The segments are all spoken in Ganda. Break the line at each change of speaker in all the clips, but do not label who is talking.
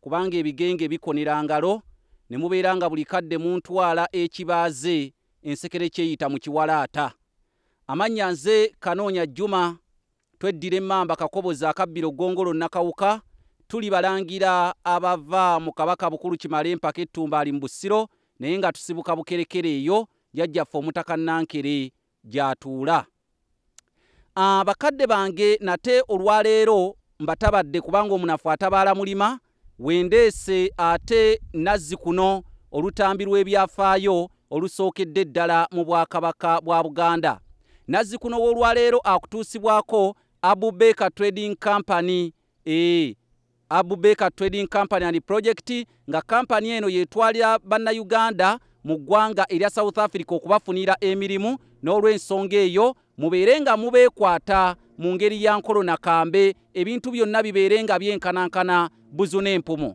Kubanga ebigenge bikonera ngalo, ne mubeera nga buli kadde muntwala ekibaaze, ensekere kyeyita mu kiwalaata. Amannya nze Kanoonya Juma, tweddira emmamba Kakoboza akabbiro Ggongolo Nakawuka, tuli balangira abava mu Kabaka Bukulu Kimala empaka e Ttumbaali mu Busiro naye nga tusibuka Bukerekere eyo jjajjaffe Omutaka Nankere gy'atuula. Ah, bakadde bange, nate olwa leero mbatabadde kubanga omunafu atabaala mulima. Wendeese ate Nazzi kuno olutambi lw'ebyafaayo olusookedde ddala mu Bwakabaka bwa Buganda. Nazzikuno w'olwaleero akutuusibwako Abu Baker Trading Company Eeh Abu Baker Trading Company and Project nga kampani eno yetwalira Bannayuganda mu ggwanga erya South Africa okubafuniira emirimu n'olwensonga eyo mubeere nga mubeekwata mu ngeri ya nkolo na kambe ebintu byonna bibeere nga byenkanankana buzu n'empumu.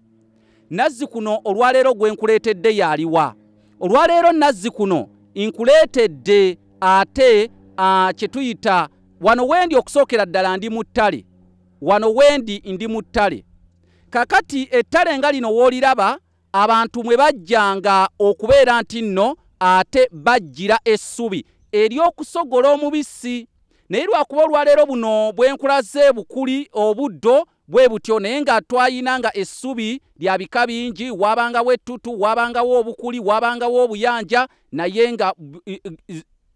Nazzikuno olwaleero gwe nkuleetedde y'aliwa? Olwaleero Nazzikuno nkuleetedde ate kye tuyita wano wendi okusookera ddala ndi mu ttale. wano wendi ndi mu ttale kakati ettale nga lino wooliraba abantu mwe bajjanga okubeera nti nno ate bajjira essubi ery'okusogola omubisi naye lwakuba olwaleero buno bwenkulaze bukuli obuddo bwe butyo naye nga twayina nga essubi lya bika bingi waabangawo ettutu waabangawo obukuli waabangawo obuyanja naye nga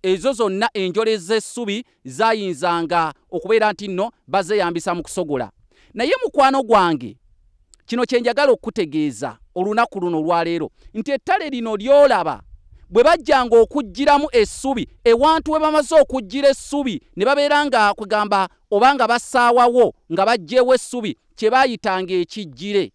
ezo zonna enjole z'essubi zayinzanga okubeera nti nno bazeyambisa mu kusogola naye mukwano gwange kino kye njagala okukutegeeza olunaku luno olwaleero nti ettale lino lyolaba bwe bajjanga okuggyiramu essubi ewantu we bamaze okuggyira essubi ne babeera nga kwegamba oba nga basaawawo nga baggyewo essubi kye baayitanga ekiggyire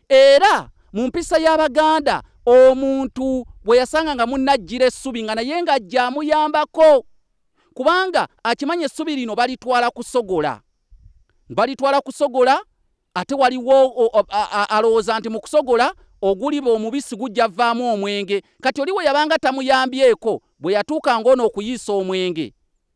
era mu mpisa y'abaganda omuntu bwe yasanga nga munna ajjira essubi nga naye nga ajja amuyambako kubanga akimanya essubi lino balitwala kusogola balitwala kusogola ate waliwo alowooza nti mu kusogola oguliba omubisi gujja vaamu omwenge kati oliwo yabanga tamuyambyeko bwe yatuuka ngaono okuyiisa omwenge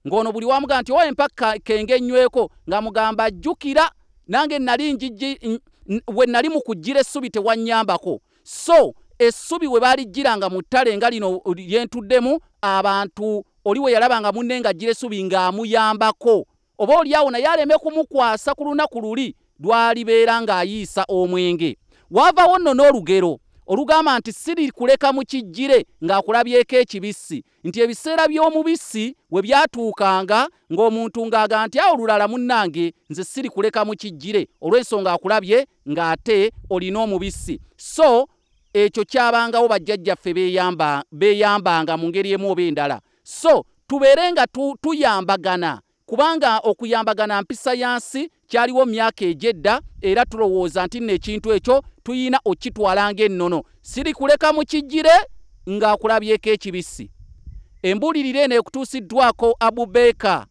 ng'ono buli wamugaa nti owa empa kenge nnyweko nga mugamba ajjukira nange nali njiji we nali mu kujjira essubi tewannyambako so essubi we baalijjiranga mu ttale nga lino lyentuddemu abantu oli we yalaba nga munne nga ajjira essubi ng'amuyambako oba oli awo naye aleme kumukwasa ku lunaku luli lwalibeera ng'ayiisa omwenge waavawo nno n'olugero olugamba nti siri kuleka mu kijjire ng'akulabyeko ekibissi nti ebiseera by'omubisi we byatuukanga ng'omuntu ng'aga nti awo lulala munnange nze siri kuleka mu kijjire olw'ensonga akulabye ng'ate olina omubisi so ekyo kyabangawo bajjajjaffe beeyambanga mu ngeri emu oba endala so tubeere nga tuyambagana Kubanga okuyambagana mpisa ya nsi, kyaliwo mu myaka egy'edda, era tulowooza nti nno ekintu ekyo tulina okukitwala nga ennono. Sirikuleka mu kijjire nga akulabyeko ekibisi. Embuulirira eno ekutuusiddwako Abu Baker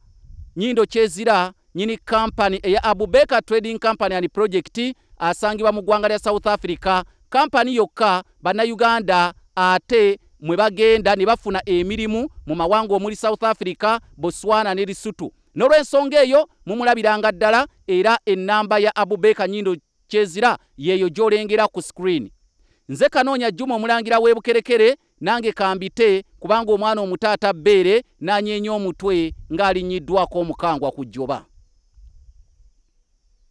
Nyindo Kyezira, nnyini Kampani eya Abu Baker Trading Company and Project asangibwa mu ggwanga lya South Africa, Kampani yokka Bannayuganda ate mwe bagenda ne bafuna emirimu mu mawanga omuli South Africa, Botswana ne Lesotho. N'olwensonga eyo mumulabiranga ddala era ennamba ya Abubaker Nyindo Kyezira yeeyo gy'olengera ku screen. Nze Kanoonya Juma Omulangira w'e Bukerekere nange kambite kubanga omwana omuto ata bbeere n'anyeenya omutwe ng'alinnyiddwaako omukangwa ku jjoba.